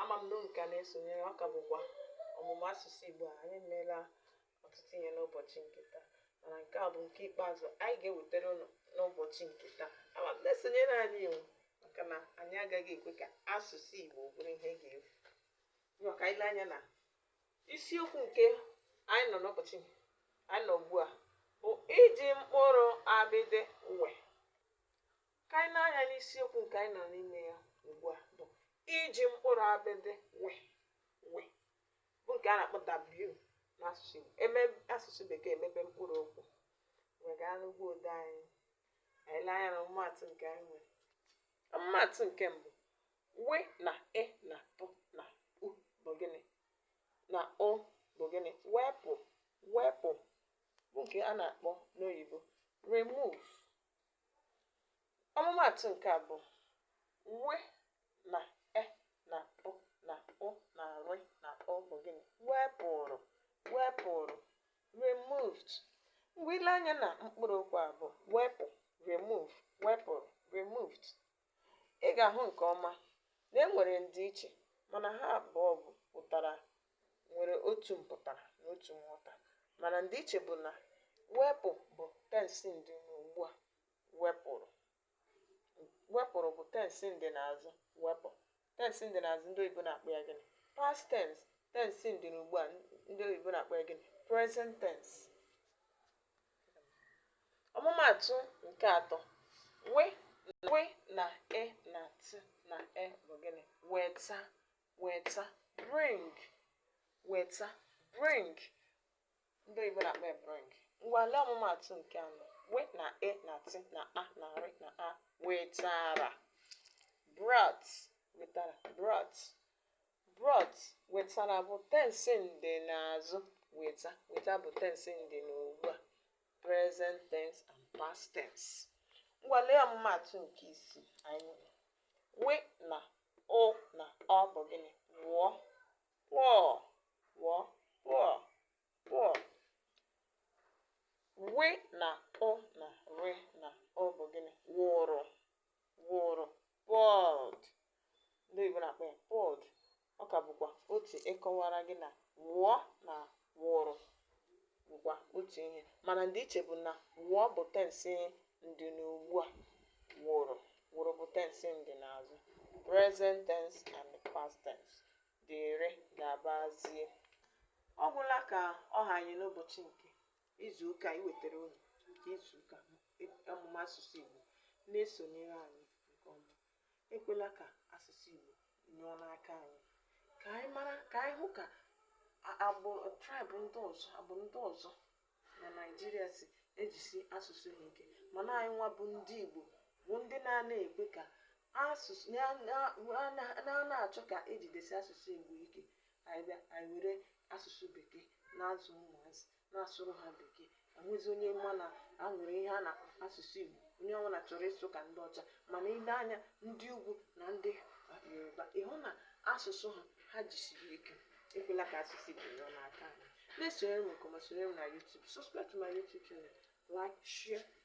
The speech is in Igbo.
ama m na unu ka na-esonyere ọ ka bụkwa ọmụmụ asụsụ Igbo a anyị meela ọtụtụ ihe n'ụbọchị nke taa mana nke a bụ nke ikpeazụ anyị ga-ewetara unu n'ụbọchị nke taa ama m na-esonyere anyị iwu maka na anyị agaghị ekwe ka asụsụ Igbo bụrụ ihe ga-efu ngwa ka anyị lee anya na isiokwu nke anyị nọ n'ụbọchị anyị nọ ugbu a bụ iji mkpụrụ abịdị we ka anyị lee anya n'isiokwu nke anyị nọ n'ime ya ugbu a bụ iji mkpụrụ abịdị we we bụ nke a na-akpọ w n'asụsụ Igbo em asụsụ bekee emebe mkpụrụ okwu wee gaa n'ugbo ode anyị anyị lee anya na ọmụmaatụ nke anyị nwere ọmụmaatụ nke mbụ we na e na pị na ụ bụ gịnị na ụ bụ gịnị wepụ wepụ bụ nke a na-akpọ n'oyibo remove ọmụmaatụ nke abụọ we na e na pị na ụ na rị na ụ bụ gịnị wepụrụ wepụrụ removed mgbe i le anya na mkpụrụ okwu a bụ wepụ remove wepụrụ removed ị ga-ahụ nke ọma na e nwere ndịiche mana ha abụọ pụtara nwere otu mpụtara na otu nghọta mana ndịiche bụ na wepụ bụ tensị ndị na ugbu a wepụrụ wepụrụ bụ tensị ndị n'azụ wepụ Tensị ndị n'azụ ndị oyibo na-akpọ ya gịnị? Past tense. Tensị ndị na ugbu a ndị oyibo na-akpọ ya gịnị? Present tense. Ọmụmaatụ nke atọ. We na e na ti na a bụ gịnị? Weta weta bring weta bring ndị oyibo na-akpọ ya bring ngwa lee ọmụmaatụ nke anọ we na e na ti na a na rị na a wetara brought wetara brought brought wetara bụ tensi ndị n'azụ weta weta bụ tensi ndị n'ugbu a present tense and past tense ngwa lee ọmụmaatụ nke ise anyị nwere we na ụ na ọ bụ gịnị wụọ Wụọ, pour, pour. Wị na ụ na rị na ụ bụ gịnị? Wụrụ, wụrụ, poured. Ndị oyibo na-akpọ ya poured. Ọ ka bụkwa otu ịkọwara gị na wụọ na wụrụ bụkwa otu ihe mana ndịiche bụ na wụọ bụ tensị ndịnuugbua, wụrụ wụrụ bụ tensị ndịnaazụ, present tense and past tense, dịrị, gabazie. Ọ gwụla ka ọ ha anyị n'ụbọchị nke izuụka anyị wetara unu nke izuụka ọmụmụ asụsụ Igbo na-esonyere anyị nke ọma. ekwela ka asụsụ Igbo nyụọ n'aka anyị ka anyị mara ka anyị hụ ka agbụrụ tribe ndị ọzọ agbụrụ ndị ọzọ na naijiria si ejisi asụsụ ha ike mana anyị nwa bụ ndị igbo bụ ndị na-ana ekwe ka asụsụ na-ana achọ ka ejidesi asụsụ igbo ike anyị bịa anyị were asụsụ bekee na-azụ ụmụazị na-asụrụ ha bekee enwezi onye ma na e nwere ihe a na asụsụ Igbo onye ọbụla chọrọ ịsụ ka ndị ọcha mana i lee anya ndị ugwu na ndị yoruba ị hụ na asụsụ ha ha jisiri ike ekwela ka asụsụ Igbo nyụọ n'aka anyị na-esonyere m nke ọma sonyere m na YouTube subscribe to my YouTube channel like share